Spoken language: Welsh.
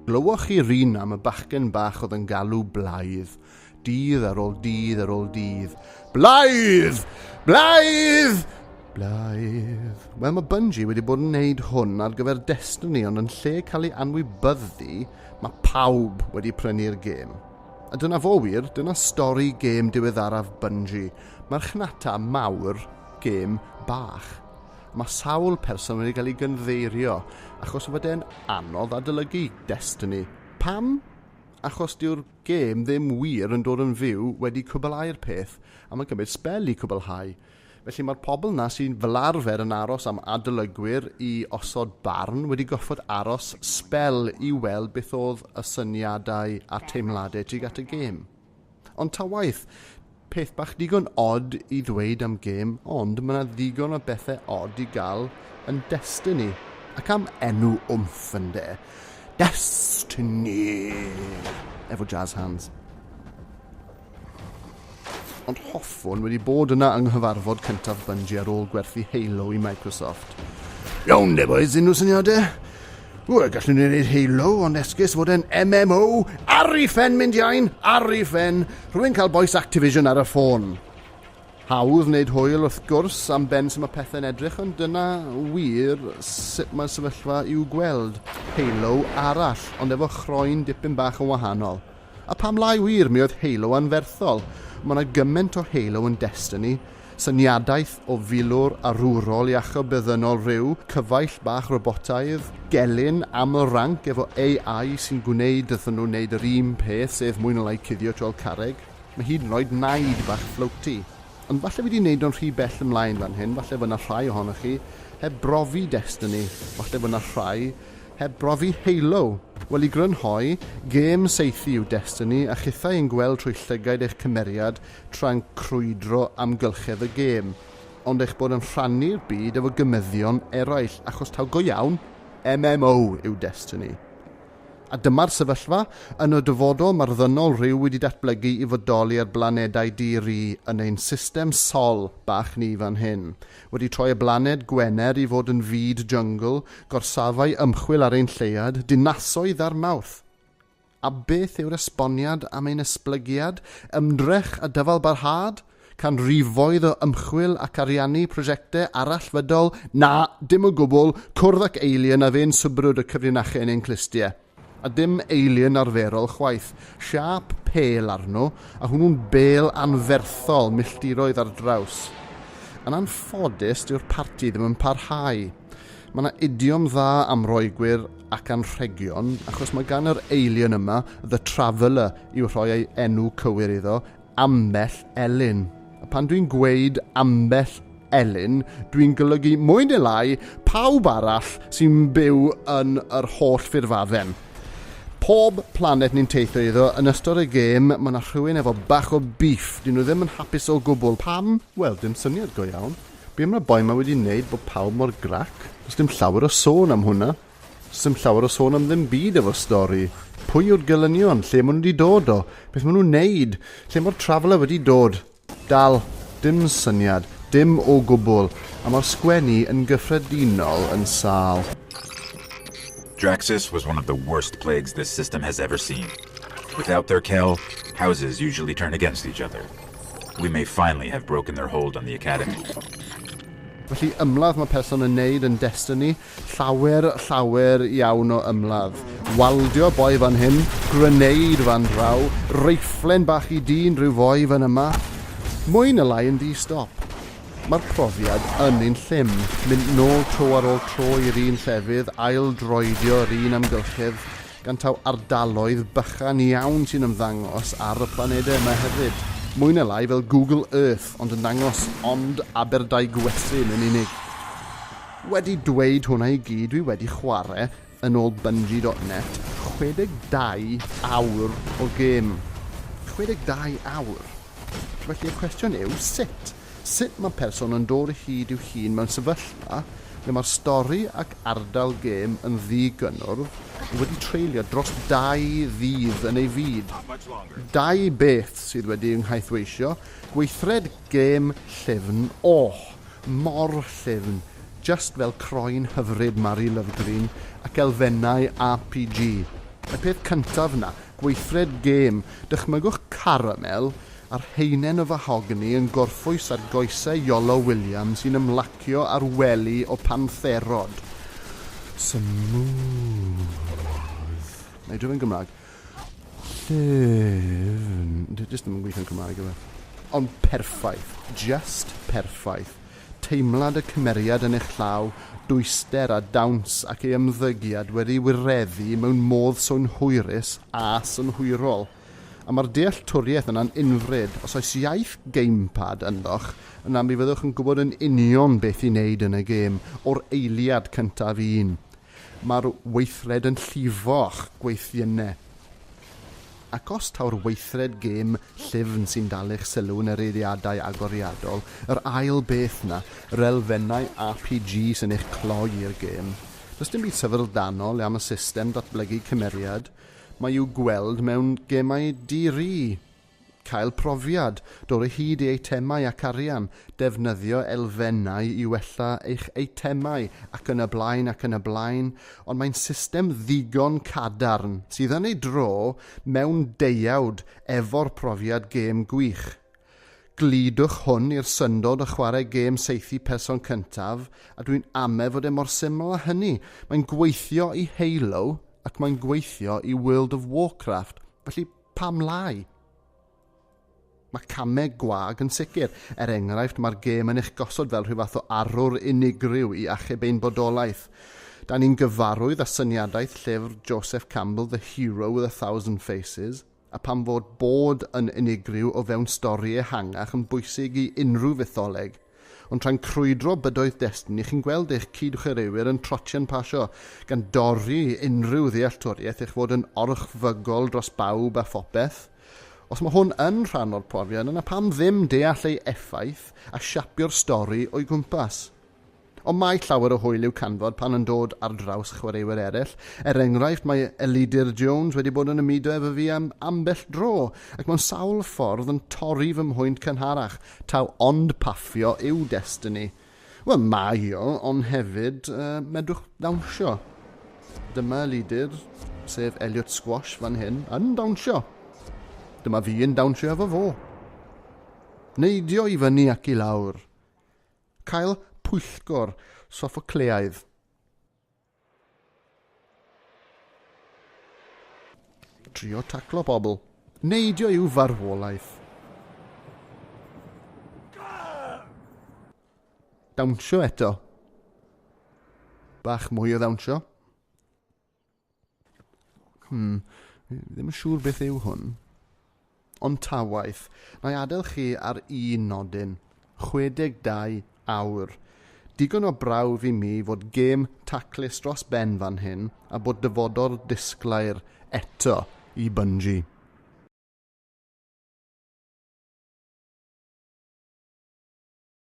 Glywoch chi rin am y bachgen bach oedd yn galw blaidd? Dydd ar ôl dydd ar ôl dydd. Blaidd! Blaidd! Blaidd. Wel, mae Bungie wedi bod yn wneud hwn ar gyfer Destiny, ond yn lle cael ei anwybyddu, mae pawb wedi prynu'r gêm. A dyna fo wir, dyna stori gêm diweddaraf Bungie. Marchnata mawr, gêm bach. Mae sawl person wedi cael ei gynddeirio, achos fod e'n anodd adolygu Destiny. Pam? Achos dyw'r gêm ddim wir yn dod yn fyw wedi cwbyllau'r peth a mae'n cymryd sbel i cwbyllhau. Felly mae'r pobl 'na sy fel arfer yn aros am adolygwyr i osod barn wedi gorfod aros sbel i weld beth oedd y syniadau a'r teimladau tuag at y gêm. Ond ta waeth, peth bach digon od i ddweud am gêm, ond mae 'na ddigon o bethau od i gael yn Destiny. Ac am enw wmff ynde? Destiny! Efo jazz hands. Ond hoffwn wedi bod yna yng nghyfarfod cyntaf Bungie ar ôl gwerthu Halo i Microsoft. Iawn de boys, unrhyw syniadau? Wel, gallwn ni wneud Halo, ond esgus fod e'n MMO. Ar i ffen mynd iawn, ar i ffen. Rwy'n cael boes Activision ar y ffôn. Hawdd wneud hwyl wrth gwrs am ben sy'n mae pethau'n edrych, ond dyna wir sut mae'r sefyllfa i'w gweld. Halo arall, ond efo chroen dipyn bach yn wahanol. A pam lai wir, mi oedd Halo anferthol. Mae yna gymaint o Halo yn Destiny. Syniadaeth o filwr arwrol iachub beddynol rhyw, cyfaill bach robotaidd, gelyn, aml ranc efo AI sy'n gwneud iddyn nhw wneud yr un peth, sef mwy na lai cuddio tu ol carreg. Mae hyd yn oed Naid bach floaty. Ond falle fi 'di neud o'n rhy bell ymlaen fan hyn, falle fod 'na rhai ohonoch chi heb brofi Destiny, falle fod 'na rhai Heb brofi Halo? Wel, i grynhoi, gêm saethu yw Destiny a chithau yn gweld trwy llygaid eich cymeriad tra'n crwydro amgylchedd y gêm, ond eich bod yn rhannu'r byd efo gymyddion eraill, achos taw go iawn, MMO yw Destiny. A dyma'r sefyllfa, yn y dyfodol mae'r ddynol rhyw wedi datblygu i fodoli ar blanedau di-ri yn ein system sol bach ni fan hyn, Wedi troi y blaned Gwener i fod yn fyd jyngl, gorsafau ymchwil ar ein lleuad, dinasoedd a'r Mawrth. A beth yw'r esboniad am ein esblygiad, ymdrech a dyfalbarhad? Canrifoedd o ymchwil ac ariannu prosiectau arallfydol? Na, dim o gwbl, cwrdd ac Alien a fe'n swbrwd y cyfrinachau yn ein clustiau. a dim eilun arferol chwaith, siâp pêl arno, a hwnnw'n bêl anferthol milltiroedd ar draws. Yn anffodus, dyw'r parti ddim yn parhau. Mae yna idiom dda am Roegwyr ac anrhegion, achos mae gan yr eilun yma, 'The Traveller' i'w rhoi ei enw cywir iddo, ambell elyn. A pan dwi'n gweud ambell elyn, dwi'n golygu mwy neu lai pawb arall sy'n byw yn yr holl ffurfadden. Pob planet ni'n teithio iddo, yn ystod y gêm, mae yna rhywun efo bach o beef. Dyn nhw ddim yn hapus o gwbl. Pam? Wel, dim syniad go iawn. Be mae'r boi 'ma wedi wneud bod pawb mor grac? Does dim llawer o sôn am hwnna. Sdim llawer o sôn am ddim byd efo stori. Pwy yw'r gelynion? Lle maen nhw wedi dod o? Beth maen nhw'n wneud? Lle mae'r traveller wedi dod? Dal, dim syniad, dim o gwbl, a mae'r sgwennu yn gyffredinol yn sâl. Draxxus was one of the worst plagues this system has ever seen. Without their kell, houses usually turn against each other. We may finally have broken their hold on the Academy. Felly ymladd mae person yn neud yn Destiny. Llawer, llawer iawn o ymladd. Waldio boi fan hyn, grenade fan draw, reiflen bach i dyn rhyw foi fan yma. Mwy na lai yn ddi-stop. Mae'r profiad yn un llym, mynd nôl tro ar ôl tro i'r un llefydd, ail-droedio yr un amgylchedd, gan taw ardaloedd bychan iawn sy'n ymddangos ar y planedau yma hefyd. Mwy na lai fel Google Earth ond yn dangos ond Aberdaugwestyn yn unig. Wedi dweud hwnna i gyd dwi wedi chware, yn ôl Bungie dot net, 62 awr o gêm. 62 awr! Felly y cwestiwn yw, sut? Sut mae person yn dod o hyd i'w hun mewn sefyllfa lle mae'r stori ac ardal gêm yn ddi-gynnwrf ond wedi treulio dros dau ddydd yn ei fyd? Dau beth sydd wedi ynghaethweisio, gweithred gêm llyfn, ohh, Mor llyfn, just fel croen hyfryd Mari Lovegreen ac elfennau APG. Y peth cyntaf 'na, gweithred gêm, dychmygwch caramel a'r haenen o fahogni yn gorffwys ar goesau Iolo Williams sy'n ymlacio ar wely o pantherod. Smooth. Wna i droi fe'n Gymraeg. Llyfn. Dwi jyst ddim yn gweithio'n Cymraeg yma. Ond perffaith. Just perffaith. Teimlad y cymeriad yn eich llaw, dwyster a dawns ac ei ymddygiad wedi wireddu mewn modd synhwyrus a synhwyrol. A mae'r dealltwriaeth yna'n unfryd. Os oes iaith gamepad ynddoch, yna mi fyddwch yn gwybod yn union beth i wneud yn y gêm, o'r eiliad cyntaf un. Mae'r weithred yn llifo'ch gweithiennau. Ac os taw'r weithred gêm llyfn sy'n dalu'ch sylw yn yr eiriadau agoriadol, yr ail beth 'na, yr elfennau RPG sy'n eich cloi i'r gêm, does dim byd syfrdanol am y system datblygu cymeriad mae i'w gweld mewn gemau di-ri. Cael profiad, dod o hyd i eitemau ac arian, defnyddio elfennau i wella eich eitemau ac yn y blaen ac yn y blaen, ond mae'n system ddigon cadarn sydd yn ei dro mewn deuawd efo'r profiad gêm gwych. Gludwch hwn i'r syndod o chwarae gêm saethu person cyntaf a dwi'n ame fod e mor syml â hynny, mae'n gweithio i Halo ac mae'n gweithio i World of Warcraft, felly, Pam lai? Mae camau gwag yn sicr. Er enghraifft, mae'r gêm yn eich gosod fel rhyw fath o arwr unigryw i achub ein bodolaeth. Da ni'n gyfarwydd â syniadaeth llyfr Joseph Campbell The Hero with a Thousand Faces, a pam fod bod yn unigryw o fewn stori ehangach yn bwysig i unrhyw fytholeg? Ond tra'n crwydro bydoedd destun i chi'n gweld eich cyd-chwaraewyr yn trotian pasio, gan dorri unrhyw ddealltwriaeth eich fod yn orchfygol dros bawb a phopeth. Os mae hwn yn rhan o'r profiad yna pam ddim deall ei effaith a siapio'r stori o'i gwmpas? Ond mae llawer o hwyl i'w canfod pan yn dod ar draws chwaraewyr eraill. Er enghraifft mae Elidir Jones wedi bod yn ymudo efo fi am ambell dro ac mewn sawl ffordd yn torri fy mhwynt cynharach Taw ond paffio yw destini. Wel, mae o, ond hefyd, uh, medrwch ddawnsio. Dyma lidyr, sef Elliot Squash fan hyn, yn dawnsio. Dyma fi yn dawnsio efo fo. Neidio i fyny ac i lawr. Cael pwyllgor soffocleaidd. Trio taclo pobl. Neidio yw farwolaeth. Dawnsio eto. Bach mwy o ddawnsio. Hmm, ddim yn siŵr beth yw hwn. Ond ta waeth, na i adael chi ar un nodyn, 62 awr. Digon o brawf i mi fod gêm taclus dros ben fan hyn a bod dyfodol disglair eto i Bungie.